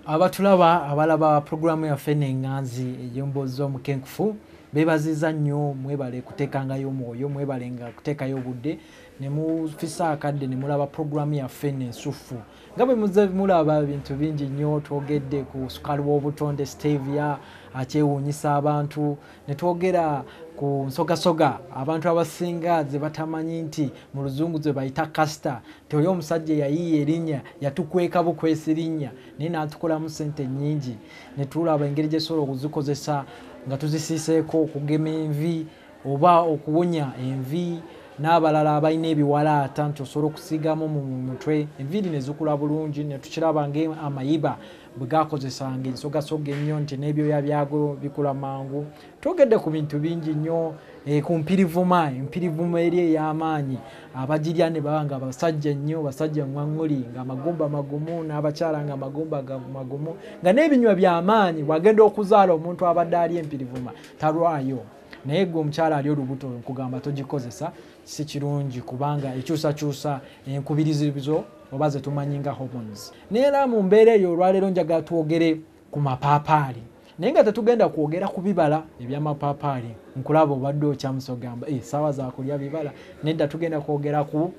abatulaba abalaba puroguramu yaffe nenganzi eyemboozi z'omukenkufu bebaziza nnyo mwebale kuteekangayo omwoyo mwebalenga kuteekayo obudde nemufisa akadde nemulaba puroguramu yaffe nensuffu nga bwe muze mulaba ebintu bingi nnyo twogedde ku sukaali w'obutonde stevia akyewuunyisa abantu ne twogera ku nsogasoga abantu abasinga ze batamanyi nti mu luzungu ze bayita kasita nti oli omusajja eyayiiya erinnya yatukweka bukwesi linnya naye n'atukolamu ssente nnyingi ne tulaba engeri gyesobola okuzikozesa nga tuzisiiseeko okugema envi oba okuwonya envi n'abalala abalina ebiwalaata nti osobola okusiigamu mu mutwe enviiri ne zikula bulungi ne tukiraba ng'amayiba bwe gakozesanga ensogasoga ennyo nti n'ebyoya byago bikula mangu twogedde ku bintu bingi nnyo eh, ku mpirivuma empirivuma eri ey'amaanyi abagirya ne baba nga basajja nnyo basajja ŋwaŋŋuli ng'amagumba magumu n'abakyala nga amagumba magumu nga n'ebinywa by'amaanyi bw'agenda okuzaala omuntu abadde ali empirivuma talwayo naye gwe omukyala ali olubuto nkugamba togikozesa si kirungi kubanga ekyusakyusa enkubirizizo oba zetumanyi nga hormones naye era mu mbeera eyo olwaleero njagala twogere ku mapaapaali naye nga tetugenda kwogera ku bibala ebyamapaapaali nkulaba obadde okyamusa ogamba eh, saawa zakulya bibala nedda tugenda kwogera ku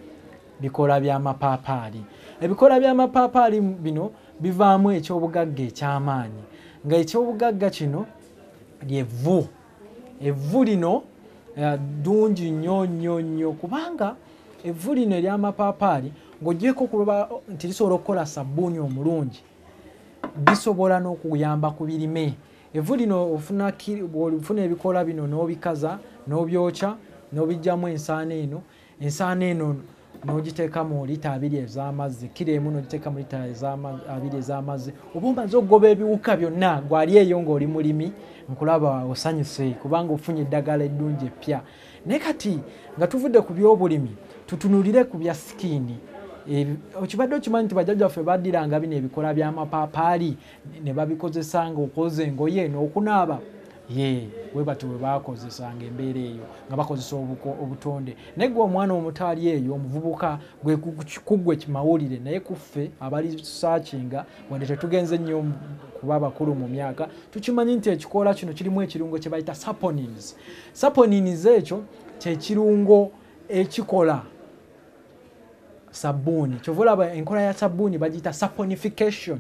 bikola byamapaapaali ebikola byamapaapaali bino bivaamu ekyobugagga ekyamaanyi nga ekyobugagga kino lyevvu evvu lino eh, ddungi uh, nnyo nnyo nnyo kubanga evvu lino eryamapaapaali ng'ogyeko okuloba nti lisobola okukola sabbuuni omulungi bisobola n'okuyamba ku birime evvu lino ofuna ebikoola bino n'obikaza n'obyokya n'obijjamu ensaano eno Ensaano eno n'ogiteeka mu lita abiri ez'amazzi kkiro emu n'ogiteeka mu lita abiri ez'amazzi oba omaze okugoba ebiwuka byonna gwali eyo ng'oli mulimi nkulaba osanyuse kubanga ofunye eddagala eddungi eppya naye kati nga tuvudde ku byobulimi tutunulire ku bya sikiini okibadde okimanyi nti bajjajjaffe baddiranga bino ebikola by'amapaapaali ne babikozesanga okwoza engoye n'okunaaba ye we batyo bwe baakozesanga embeera eyo nga bakozesa obuko obutonde naye gwe omwana omutaali eyo omuvubuka gwe kuggwe kimawulire naye kuffe abali saakinga wadde tetugenze nnyo kuba bakulu mu myaka tukimanyi nti ekikoola kino kirimu ekirungo kye bayita saponins saponins ekyo kyekirungo ekikola sabbuuni kyova olaba enkola ya sabbuuni bagiyita saponification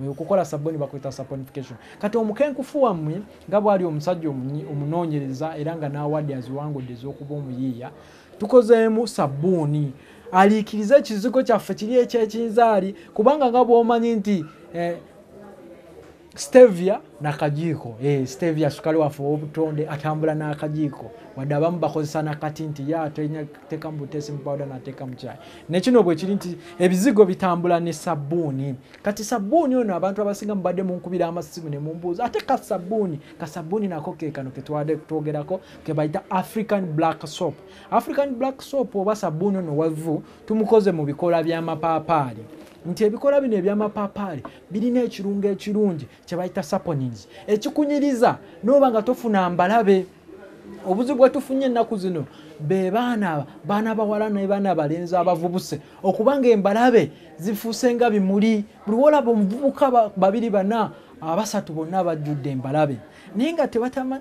okukola sabuni bakuyita saponification kati omukenkufu wammwe nga bwali omusajja omunoonyereza era nga n'awadde aziwangudde ez'okuba omuyiiya tukozeemu sabbuuni aliikirize ekizigo kyaffe kiri ekyekinzaali kubanga nga bwomanyi nti eh, stevia nakajiiko eh, stevia sukali waffe owobutonde atambula n'akajiiko wadde abamu bakozesa nakati nti ye ateekamu butesi mupawuda nateeka mukyayi nekino bwekiri nti ebizigo bitambula ne sabbuuni kati sabbuuni ono abantu abasinga mubadde munkubira amasimu ne mumbuuza ate ka sabbuuni ka sabbuuni nako kekano ketwade twogerako kebayita african black soap african black soap oba sabbuuni ono wavu tumukoze mu bikola by'amapaapaali nti ebikola bino eby'amapaapaali birina ekirungo ekirungi kyebayita saponins ekikunyiriza noba nga tofuna mbalabe obuzibu bwetufunye ennaku zino be baana baana bawala naye baana balenzi abavubuse okuba nga embalabe zifuuse nga bimuli buli wolaba omuvubuka babiri bana abasatu bonna bajjudde embalabe naye nga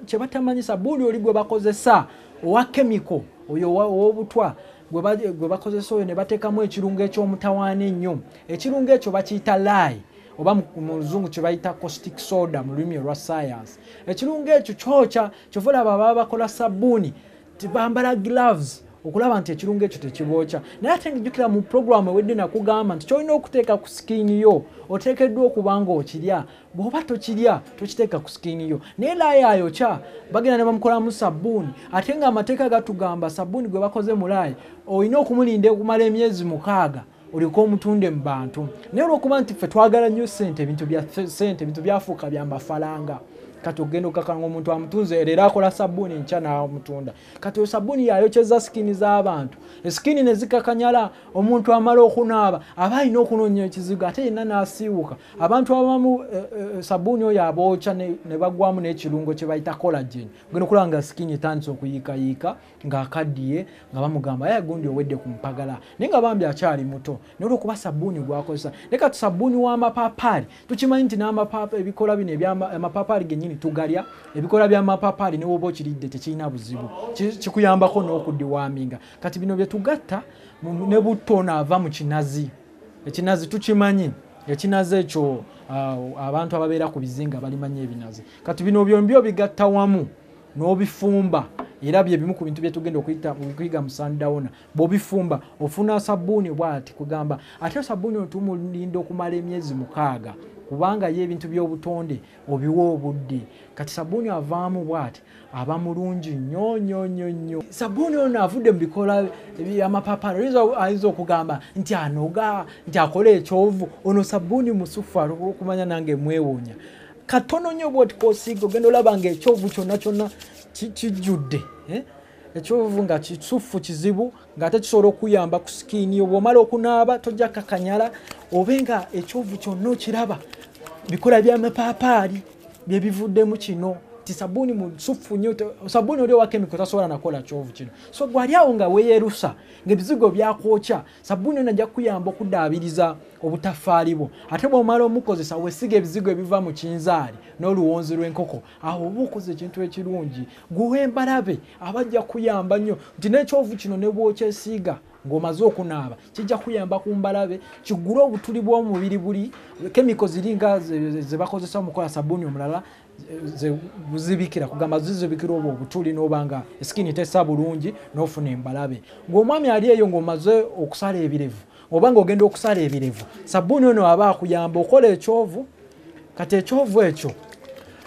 kyebatamanyisa buuli oli gwe bakozesa owa kemiko oyo owobutwa gwe bakozesa oyo ne bateekamu ekirungo eky'omutawaana ennyo ekirungo ekyo bakiyita laayi oba mu luzungu kye bayita costic soda mu lulimi olwa sayansi ekirungo ekyo kyokya kyova olaba baba bakola sabbuuni tibambala gloves okulaba nti ekirungo ekyo tekibookya naye ate ngijjukira mu puroguramu ewedde nakugamba nti kyolina okuteeka ku sikiini yo oteekeddwa okuba nga okirya bwoba tokirya tokiteeka ku sikiini yo naye laaya ayokya bagenda ne bamukolamu sabbuuni ate nga amateeka gatugamba sabbuuni gwe bakoze mu laaya olina okumulinda okumala emyezi mukaaga olyoke omutunde mu bantu naye olwokuba nti ffe twagala nnyo sente ebintu bya sente ebintu byafuuka bya mafalanga kati okugenda okukakanga omuntu amutunze leero akola sabbuuni nkya n'amutunda kati oyo sabbuuni yayokyeza sikiini z'abantu esikiini ne zikakanyala omuntu amala okunaaba aba alina okunoonya ekizigo ate yenna n'asiiwuka abantu abamu eh, eh, sabuuni oyo abookya ne bagwamu n'ekirungo kye bayita collagen ogenda okulaba nga sikini etandise okuyiikayiika ng'akaddiye nga bamugamba aye gundi owedde ku mpagala naye nga bambi akyali muto naye olwokuba sabuuni gwakozesa naye kati sabuuni w'amapaapaali tukimanyi nti ebikola bino amapaapaali gennyini tugalya ebikola by'amapaapaali ne woba okiridde tekirina buzibu kikuyambako n'okudiwaminga kati bino bye tugatta ne butto onaava mu kinazi Ekinazi tukimanyi ekinazi ekyo uh, abantu ababeera ku bizinga balimanya ebinazi kati bino byombi obigatta wamu n'obifumba era byebimu ku bintu byetugenda okuyiga mu sandawona bwobifumba ofuna sabuuni bwati kugamba ate sabuuni otumu linda okumala emyezi mukaaga kubanga yo ebintu by'obutonde obiwa obudde kati sabuuni avaamu bwati aba mulungi nyo nyo nyo nyo sabuuni ono avudde mu bikola byamapapala ayinza okugamba nti anoga nti akola ekyovu ono sabuuni musufu alwokumanya nange mwewuunya katono nyo bwotikosiiga ogenda olaba nga ekyovu kyonna kyonna kijjudde eh? ekyovu nga kisuffu kizibu ng'ate kisobola okuyamba ku sikiini yo bw'omala okunaaba tojja kakanyala obe nga ekyovu kyonna okiraba bikola byamapaapaali bye bivuddemu kino ti sabuuni musuffu nyo sabuuni oli owa kemiko tasobola nakola kyovu kino so gwali awo nga weyerusa ngaebizigo byakwokya sabuuni yo najja kukuyamba okudaabiriza obutafaali bwo ate bw'omala omukozesa wesiga ebizigo ebiva mu kinzaali n'oluwonzi lw'enkoko awo oba okoze ekintu ekirungi gwewembalabe aba ajja kuyamba nnyo nti nekyovu kino nebwokyesiiga ng'omaze okunaaba kijja kuyamba ku mbalabe kigule obutuli bw'omubiri buli kemiko ziringa zebakozesa mukola sabuuni omulala zibikira kugamba zizibikira obwo obutuli noba nga esikini tesa bulungi nofuna embalabe ng'omwami ali eyo ng'omaze okusala ebirevu oba nga ogenda okusala ebirevu sabbuuni ono aba akuyamba okola ekyovu kati ekyovu ekyo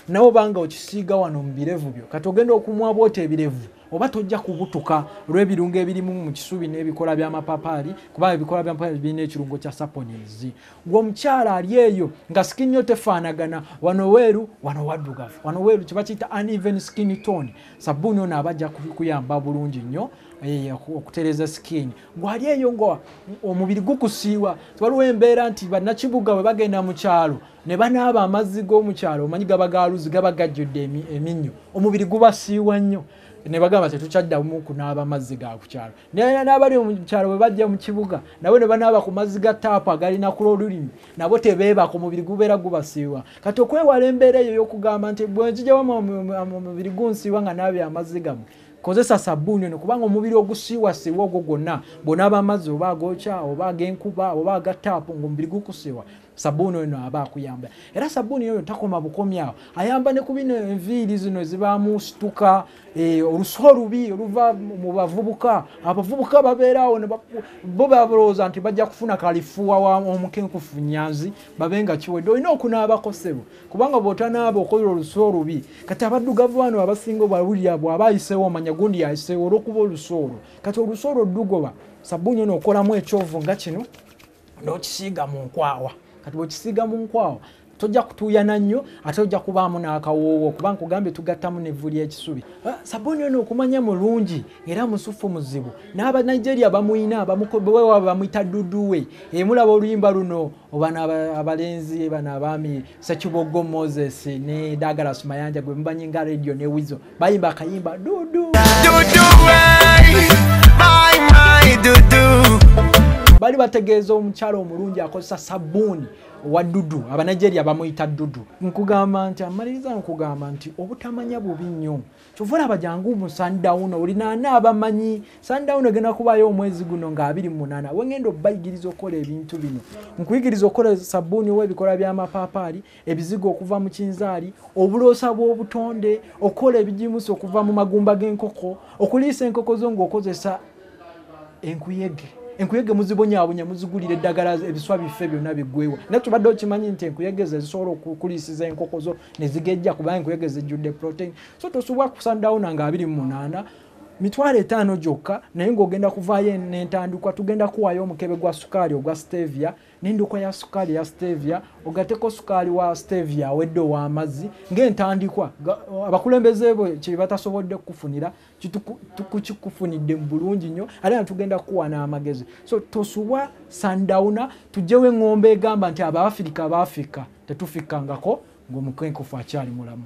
nawe obanga okisiiga wano mu birevu byo kati ogenda okumwa bwota ebirevu oba tojja kubutuka olw'ebirungo ebirimu mu kisubi n'ebikola by'amapapaali kuba ebikola byamapapaali birina ekirungo kya saponins gwe omukyala ali eyo nga skin yo tefaanagana wano weeru wano waddugavu wano weeru kiba kiyita uneven skin tone sabbuuni ono aba ajja kuyamba bulungi nnyo eh, okutereza skin gwali eyo nga omubiri gukusiiwa waliwo embeera nti bannakibuga bwe bagenda mu kyalo ne banaaba amazzi g'omukyalo omanyi gaba galuzi gaba gajjudde eminnyo omubiri gubasiiwa nnyo ne bagamba tetukyaddamu kunaaba amazzi ga ku kyalo naye n'abali mu kyalo bwe bajja mu kibuga nabo ne banaaba ku mazzi ga taapu agalina kula olulimi nabo tebeebaka omubiri gubeera gubasiiwa kati okwewala embeera eyo ey'okugamba nti bwe nzija wamumubiri gunsiiwa nga naabya amazzi gamu Kozesa sabbuuni ono kubanga omubiri ogusiiwasiiwa ogwo gwonna bw'onaaba amazzi oba agookya oba ag'enkuba oba aga taapu ng'omubiri gukusiiwa sabbuuni ono aba akuyamba era sabbuuni oyo takoma bukomi awo ayamba ne ku bino enviiri zino ezibaamu situka eh, olusi olubi oluva mu bavubuka abavubuka babeeraawo bo balowooza nti bajja kufuna kalifuwa wa omukenkufu nyanzi babe nga kiwedde olina okunaabako ssebo kubanga bwotanaaba okola olusu olubi kati abaddugavu bano abasinga obawulira bwaba ayiseewo omanya gundi yayiseewo olwokuba olusu olwo kati olusu olwo dugoba sabbuuni ono okolamu ekyovu nga kino nokisiiga mu nkwawa kati bwekisiiga mu nkwawa tojja kutuuyana nnyo ate ojja kubaamu n'akawoowo kuba nkugambye tugattamu n'evvu ly'ekisubi ah, sabuni ono okumanya mulungi era musuffu muzibu n'abanigeria bamuyina bamuyita duduwe emulaba eh, oluyimba luno obana abalenzi bana abaami sekibogo moses ne dagala sumayanja gwe mubanyi nga radio ne wizo bayimba akayimba dudu bali bategeeza omukyalo omulungi akozesa sabuuni wa dudu abanigeria bamuyita dudu nkugamba nti amaliriza nkugamba nti obutamanya bubi nnyo kyova olaba jangu mu sundown olinaana abamanyi sundown egenda kubayo omwezi guno nga abiri munana wengenda obayigiriza okukola ebintu bino nkuyigiriza okukola sabuuni owebikola byamapaapaali ebizigo okuva mu kinzaali obuloosa bw'obutonde okukola ebijimusa okuva mu magumba g'enkoko okuliisa enkoko zo ngaokozesa enkuyege enkuyege muzibonyabonya muzigulira eddagala ebiswa biffe byonna bigwewa naye tubadde okimanyi nti enkuyege ze zisobola okukulisiza enkoko zo ne zigejja kuba enkuyege zijjudde protein so tosubwa kusandawuna nga abiri mu munaana mitwalo etaano gyokka naye ng'ogenda kuvaayo n'entandikwa tugenda kuwaayo omukebe gwa sukaali ogwa stevia n'endokwa ya sukaali ya stevia ogateko sukaali wa stevia awedde ow'amazzi ng'entandikwa abakulembeze bwe kye batasobodde kukufunira tukikufunidde mu bulungi nnyo ate na tugenda kukuwa n'amagezi so tosubwa sundowna tugyewo eŋŋombo egamba nti abaafirika abaafirika tetufikkangako ng'omukwenkufu akyali mulamu